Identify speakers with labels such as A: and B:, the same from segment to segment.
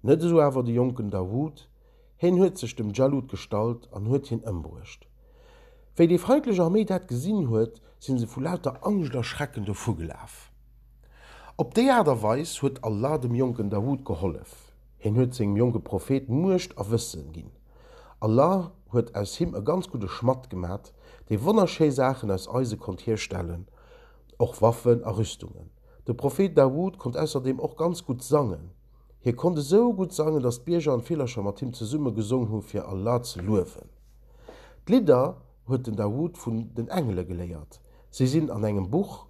A: Net esou awer de jonken Dawut, hien huet sech dem Djalut gestallt an huet hien ëmbruecht. Wéi déi feindlech Arméi dat gesinn huet, sinn se vu lauter Angscht a Schrecken dovu gelaf. Op déi Aart a Weis huet Allah dem jonken Dawut gehollef, hien huet sengem jonke Prophet Muecht a Wësse ginn. Allah huet aus him e ganz gudde Schmadd gemat, dee wonnerschéi Saachen aus Eise konnt hierstellen, och Waffen a Rüstungen. De Prophet Dawut konnt ausserdeem och ganz gutt sangen. Hie konnt esou gutt sangen, datt d'Bierger an Villercher mat him zesumme gesong hu fir Allah ze luewen. D'Lidder huet den Dawud vun den Engele geléiert. Si sinn an engem Buch,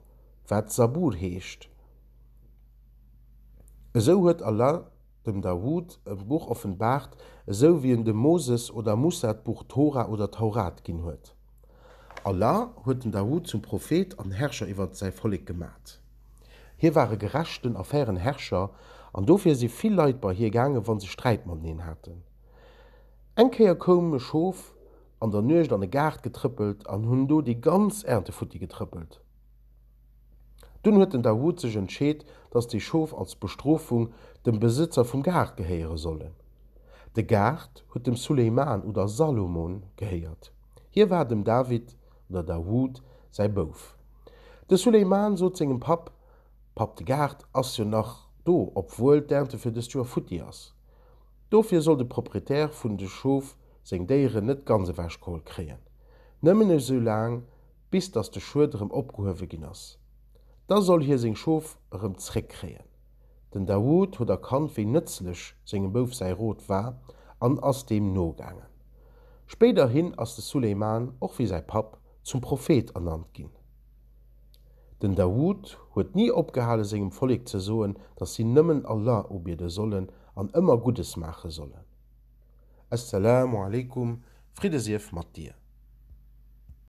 A: wat Zabur heescht. Esou huet Allah dem Dawud e Buch offenbaart, esou wéi en dem Moses oder Mussa d'Buch Tora oder Taurat ginn huet. Allah huet den Dawut zum Prophet an Herrscher iwwert säi Vollek gemat. Hie war e gerechten a fairen Herrscher an dofir si vill Leit bei hie gaangen, wa se Sträit mateneen haten. Eng Kéier koum e Schof an der Nuecht an e Gaart getrëppelt an hunn do déi ganz Ernte futti getrëppelt. Dunn huet den Dawud sech entscheet, dass déi Schof als Bestrofung dem Besëtzer vum Gaart gehéiere sollen. De Gaart huet dem Sulejman oder Salomon gehéiert. Hie war dem David oder Dawud säi Bouf. De Sulejman sot sengem Papp, Papp, de Gaart ass jo nach do, obwuel d'Ernte fir dëst Joer futti ass. Dofir soll de Proprietär vun de Schof seng Déieren net ganz ewechgeholl kréien. Nëmmen esoulaang, bis datt de Schued erëm opgehuewe ginn ass. Da soll hie seng Schof erëm zréckkréien. Den Daoud huet erkannt, wéi nëtzlech sengem Bouf säi Rot war an ass deem nogaangen. Spéiderhin ass de Sulejman, och wéi säi Papp, zum Prophet ernannt ginn. Den Daoud huet ni opgehale sengem Vollek ze soen, datt si nëmmen Allah ubiede sollen an ëmmer Guddes maache sollen. As-Salaamu alaikum, Fridde sief mat dir!